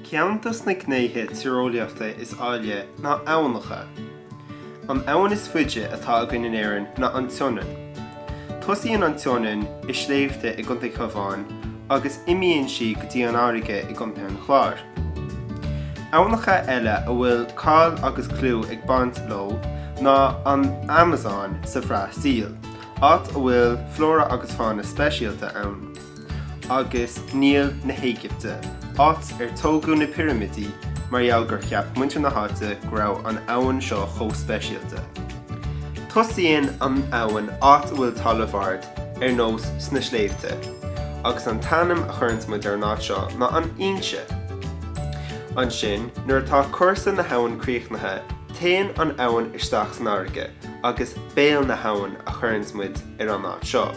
Ceann dos na gnéithe tíreolaíochta is áille ná aibhneacha. An abhainn is faide atá againn in Éirinn ná an tSionainn. Tosaíonn an tSionainn i sléibhte i gContae Cabháin agus imíonn sí go dtí an fharraige i gContae an Chláir. Aibhneacha eile a bhfuil cáil agus clú ag baint leo ná an Amasóin sa Bhrasaíl, áit a bhfuil flóra agus fána speisialta ann, agus Níl na hÉigipte, áit ar tógadh na pirimidí, mar gheall gur cheap muintir na háite go raibh an abhainn seo chomh speisialta. Tosaíonn an abhainn áit a bhfuil talamh ard, ar nós sna sléibhte, agus an t-ainm a chuireanns muid ar an áit seo ná an fhoinse. Ansin, nuair atá cúrsa na habhann críochnaithe, téann an abhainn isteach san fharraige, agus béal na habhann a chuireanns muid ar an áit seo.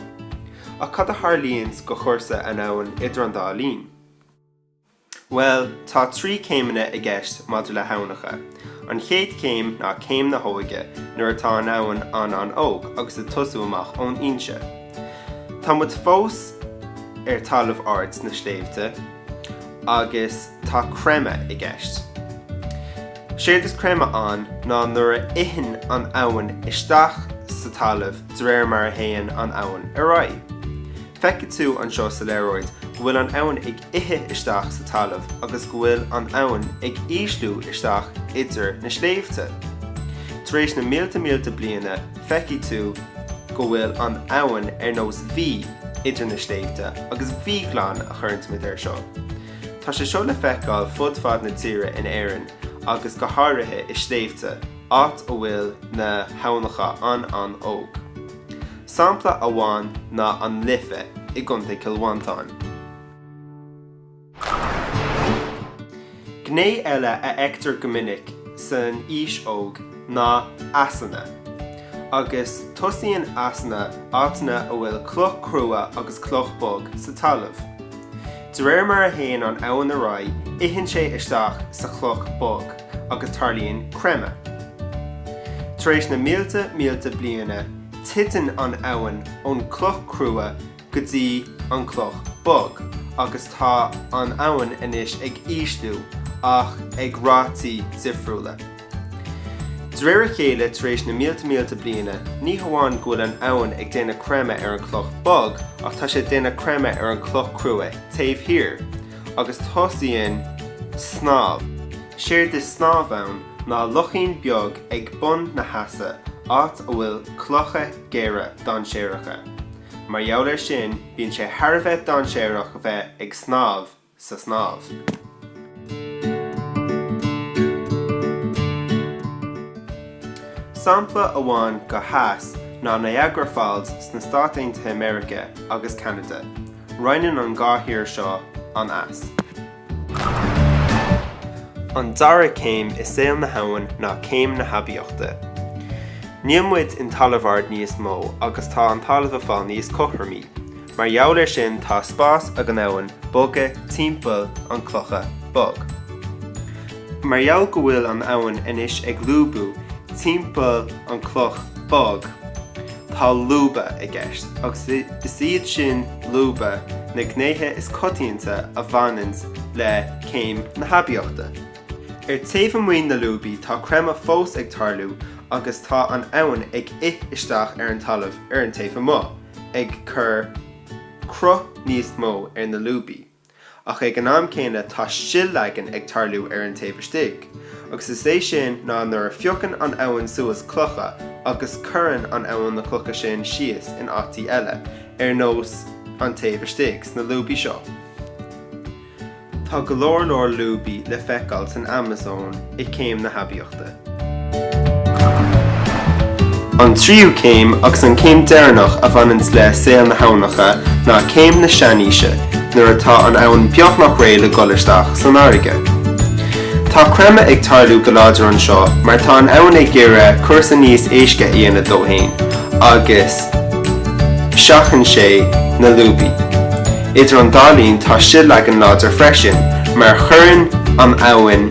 Ach cad a tharlaíonns go chúrsa an abhainn idir an dá linn? Bhuel, tá trí céimeanna i gceist maidir le haibhneacha. An chéad céim ná céim na hóige, nuair atá an abhainn an-an-óg agus ag tosú amach ón fhoinse. Tá muid fós ar talamh ard sna sléibhte, agus tá creimeadh i gceist. Séard is creimeadh ann ná nuair a itheann an abhainn isteach sa talamh de réir mar a théann an abhainn ar aghaidh. Feicfidh tú anseo sa léaráid go bhfuil an abhainn ag ithe isteach sa talamh agus go bhfuil an abhainn ag ísliú isteach idir na sléibhte. Tar éis na mílte mílte bliana, feicfidh tú go bhfuil an abhainn ar nós V idir na sléibhte, agus V-ghleann a chuireanns muid air seo. Tá sé seo le feiceáil fud fad na tíre in Éirinn agus go háirithe i sléibhte, áit a bhfuil na haibhneacha an-an-óg. Sampla amháin ná an Life i gContae Chill Mhantáin. Gné eile a fheictear go minic san aois óg ná easanna, agus tosaíonn easanna áiteanna a bhfuil cloch crua agus cloch bog sa talamh. De réir mar a théann an abhainn ar aghaidh, itheann sé isteach sa chloch bog agus tarlaíonn creimeadh. Tar éis na mílte mílte bliana, titeann an abhainn ón cloch crua, go dtí an cloch bog agus tá an abhainn anois ag ísliú ach ag rátaí difriúla. De réir a chéile tar éis na mílte mílte bliana ní hamháin go bhfuil an abhainn ag déanamh creimeadh ar an chloch bog ach tá sé ag déanamh creimeadh ar an chloch crua taobh thiar agus tosaíonn snámh. Séard is snámh ann ná lochín beag ag bun na heasa áit a bhfuil clocha géara dainséaracha. Mar gheall air sin, bíonn sé thar a bheith dainséarach a bheith ag snámh sa snámh. Sampla amháin d'eas ná Niagara Falls sna Stáit Aontaithe America agus Ceanada. Roinneann an dhá thír seo an eas. An dara céim i saol na habhainn ná céim na haibíochta. Níl muid in talamh ard níos mó agus tá an talamh ag fáil níos cothromaí. Mar gheall ar sin tá spás ag an abhainn bogadh timpeall an chlocha bog. Mar gheall go bhfuil an abhainn anois ag lúbadh timpeall an cloch bog, Tá lúba i gceist, agus is iad sin lúba na gnéithe is coitianta a bhaineann le céim na haibíochta. Ar taobh amuigh na lúbaí tá creimeadh fós ag tarlú agus tá an abhainn ag ith isteach ar an talamh ar an taobh amuigh, ag cur cruth níos mó ar na lúbaí. ach ag an am céanna tá sil-leagan ag tarlú ar an taobh istigh, agus is é sin ná nuair a phiocann an abhainn suas clocha agus cuireann an abhainn na clocha sin síos in áití eile, ar nós an taobh istigh, sna lúbaí seo. Tá go leor leor lúbaí le feiceáil san Amazon i céim na haibíochta. An tríú céim agus an céim deireanach a bhaineann le saol na habhnacha ná céim na seanaoise, nuair atá an abhainn beagnach réidh le goil isteach san fharraige. Tá creimeadh ag tarlú go láidir anseo mar tá an abhainn ag iarraidh cúrsa níos éisce a dhéanamh dó féin agus seachnaíonn sé na lúbaí. Idir an dá linn tá sil-leagan láidir freisin mar chuireann an abhainn